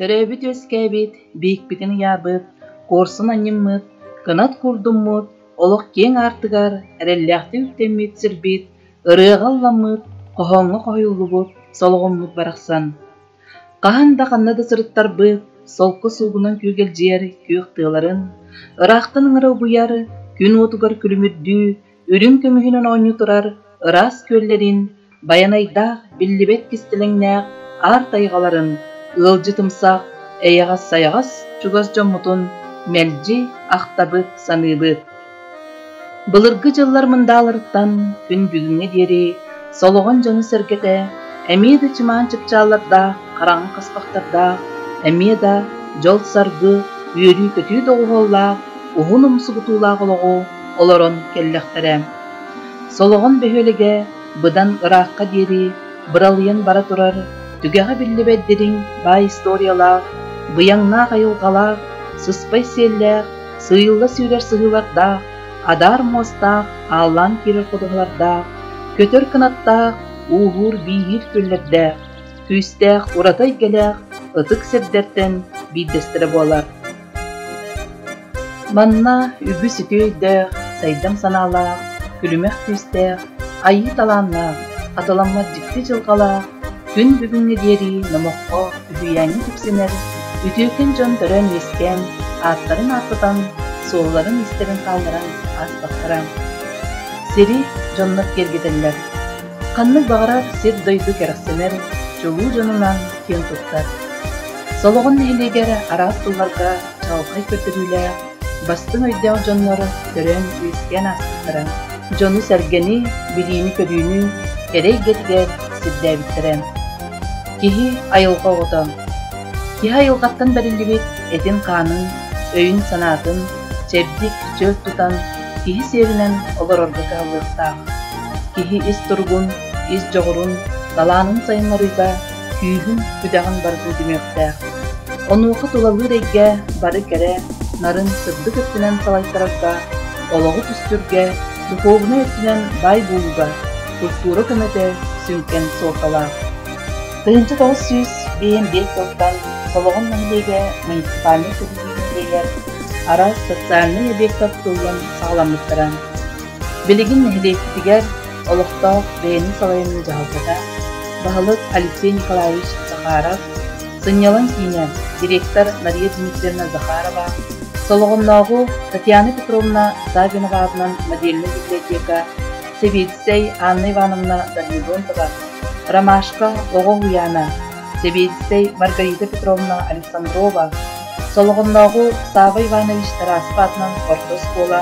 Төрөөбүт үөскээбит, биикпитин ыйаабыт, куорсун анньыммыт, кынат курдуммут, олох киэҥ аартыгар эрэллээхтик үктэммит сирбит ырыаҕа ылламмыт, хоһооҥҥо хоһуйуллубут, солоҕуммут барахсан. Хаһан да ханна да сырыттарбыт, солко суугунан күөгэлдьийэр күөх тыаларын, ыраахтан ыҥыра угуйар, күн уотугар күлүмүрдүү, үрүҥ көмүһүнэн оонньуу турар ыраас күөллэрин, байанайдаах, биллибэт кистэлэҥнээх аар тайҕаларын, ыалдьытымсах, эйэҕэс-сайаҕас чугас дьоммутун мэлдьи ахтабыт, саныыбыт. Былыргы дьыллар мындааларыттан күн бүгүҥҥэ диэри солоҕон дьоно-сэргэтэ эмиэ да чымаан чыпчааллардаах, хараҥа хаспахтардаах, эмиэ да дьол-саргы, үөрүү-көтүү доҕуһуоллаах, уһун умсугутуулаах олоҕу олорон кэллэхтэрэ Солоҕон бөһүөлэгэ быдан ыраахха диэри быралыйан бара турар түгэҕэ биллибэт дириҥ баай историялаах, быйаҥнаах айылҕалаах, сыспай сиэллээх, сыыйылла сүүрэр сыһыылардаах, адаар муостаах, ааллаан киирэр ходуһалардаах, көтөр кынаттаах, ууһуур-бииһиир күөллэрдээх, күүстээх ураты эйгэлээх ытык сирдэртэн биирдэстэрэ буолар. Манна үгүс үтүөйдээх, сайдам санаалаах, күлүмэх күүстээх, айыы талааннаах, хатыламмат дьикти дьылҕалаах күн бүгүҥҥэ диэри номоххо үһүйээҥҥэ тиксинэр үтүөкэн дьон төрөөн-үөскээн ааттарын ааттатан, суолларын истэрин хаалларан ааспаттара. Сири дьоннор киэргэтэллэр Ханнык баҕарар сир-дойду кэрэхсэнэр, чулуу дьонунан киэн туттар. Солоҕун нэһилиэгэ эрэ араас сылларга чаҕылхай көрдөрүүлээх, бастыҥ өйдөөх дьоннор көрөн-үөскээн ааспыттара, дьону-сэргэни, билиини-көрүүнү кэрэ эйгэтигэр сирдээбиттэрэ. Киһи айылҕа оҕото. Киһи айылҕаттан бэриллибит этин-хаанын, өйүн-санаатын чэбдик чөл тутан, киһи сиэринэн олорорго кыһаллыахтаах. Киһи ис туругун, ис дьоҕурун, талаанын сайыннарыыга күүһүн-күдэҕин барытын түмүөхтээх. Онуоха тулалыыр эйгэ бары кэрэ, нарын сырдык өттүнэн салайтарарга, олоҕу түстүргэ, духуобунай өттүнэн бай буолууга культура көмөтө сүҥкэн суолталаах. Тыһыынча тоҕус сүүс бэйэм биэс тылтан Солоҕон нэһилиэгэ муниципальнай иһигэр араас социальнай объект оттуллан саҕаламмыттара. Билигин нэһилиэктигэр олохтоох бэйэни салайыныы дьаһалтата баһылык Алексей Николаевич Захаров, сынньалаҥ киинэ директор Мария Дмитриевна Захарова, Солоҕоннооҕу Татьяна Петровна Савиноваҕатынан модельнай библиотека Сэбиэдисэй Анна Ивановна Данилонтова, Ромашка оҕо уһуйаана Сэбиэскэй Маргарита Петровна Александрова, Солоҕоннооҕу Савва Иванович Тараспа аатынан орто оскуола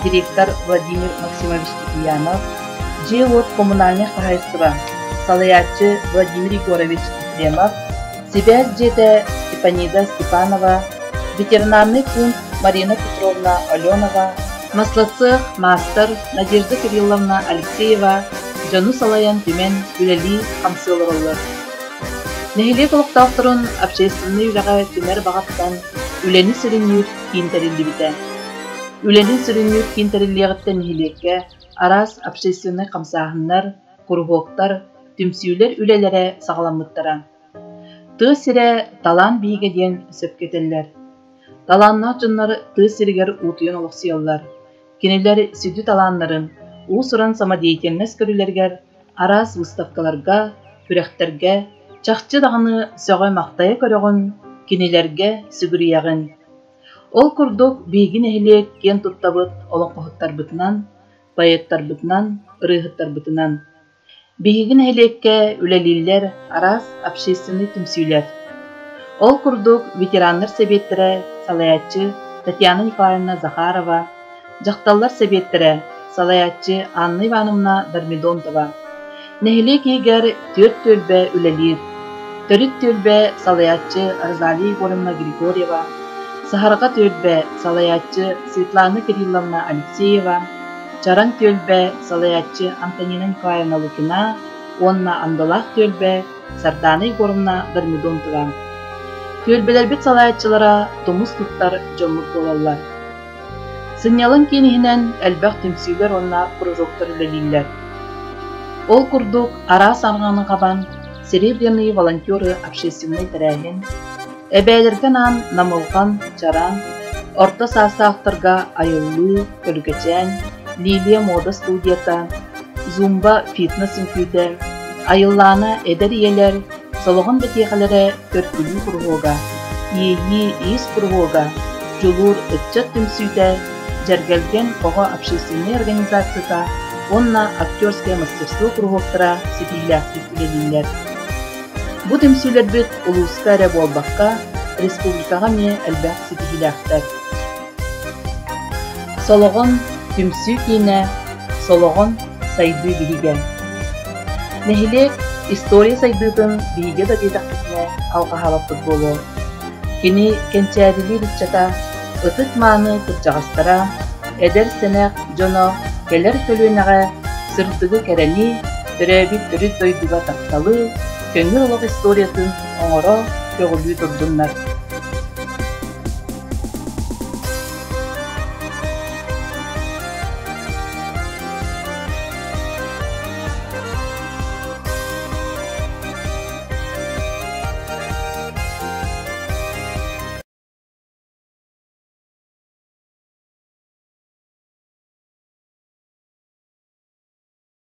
директор Владимир Максимович Китиянов, дьиэ-уот коммунальнай хаһаайыстыба салайааччы Владимир Егорович Ефремов, сибээс дьиэтэ Степанида Степанова, ветеринарный пункт Марина Петровна Аленова, маслоцех маастар Надежда Кирилловна Алексеева, дьону салайан түмэн, үлэлии, хамсыы олороллор. Нэһилиэк олохтоохторун общественнай үлэҕэ түмэр баҕаттан үлэни сүрүннүүр киин тэриллибитэ. Үлэни сүрүннүүр киин тэриллиэҕиттэн нэһилиэккэ араас общественнай хамсааһыннар, куруһуоктар, түмсүүлэр үлэлэрэ саҕаламмыттара. Тыа сирэ талаан биһигэ диэн сөпкө этэллэр. Талааннаах дьоннор тыа сиригэр уутуйан олохсуйаллар Кинилэр сүдү талааннарын уус-уран самодеятельность көрүүлэригэр, араас выставкаларга, күрэхтэргэ, чахчы даҕаны сөҕө-махтайа көрөҕүн, кинилэргэ сүгүрүйэҕин. Ол курдук биһиги нэһилиэк киэн туттабыт олоҥхоһуттарбытынан, поэттарбытынан, ырыаһыттарбытынан Биһиги нэһилиэккэ үлэлииллэр араас общественнай түмсүүлэр. Ол курдук, ветераннар сэбиэттэрэ салайааччы Татьяна Николаевна Захарова, дьахталлар сэбиэттэрэ салайааччы Анна Ивановна Дормидонтова. Нэһилиэк иһигэр түөрт түөлбэ үлэлиир. Төрүт түөлбэ салайааччы Розалия Егоровна Григорьева, саһарҕа түөлбэ салайааччы Светлана Кирилловна Алексеева, Чараҥ түөлбэ салайааччы Антонина Николаевна Лукина уонна Андалаах түөлбэ Сардаана Егоровна Дормидонтова. Түөлбэлэрбит салайааччылара тумус туттар дьоммут буолаллар. Сынньалаҥ кииниһинэн элбэх түмсүүлэр уонна кружоктар үлэлииллэр. Ол курдук араас арҕааны хабан Серебряные волонтеры общественнай тэрээһин, Эбээлэргэ анаан Намылҕан, Чараан, орто саастаахтарга айыллыы, Көлгөчөөн, Лилия муода студията, Зумба фитнес-үҥкүүтэ, Айыллаана эдэр ийэлэр Солоҕон бэтиэхэлэрэ төркүлүү куруһуога, Иэйии иис куруһуога, Дьулуур ыччат түмсүүтэ, Дьэргэлгэн оҕо общественнай организацията уонна актерскай мастерство куруһуоктара ситиһиилээхтик үлэлииллэр. Бу түмсүүлэрбит улууска эрэ буолбакка, республикаҕа эмиэ элбэх ситиһиилээхтэр. Солоҕон түмсүү киинэ, Солоҕон сайдыы биһигэ. Нэһилиэк история сайдыытын биһигэ да диэтэхпитинэ алҕаһаабаппыт буолуо. Кини кэнчээдилиир ыччата, ытык-мааны кырдьаҕастара, эдэр-сэнэх дьоно кэлэр көлүөнэҕэ сырдыгы кэрэнии, төрөөбүт өрүс дойдуга тапталы, көҥүл олох историятын оҥоро, көҕүлүү турдуннар!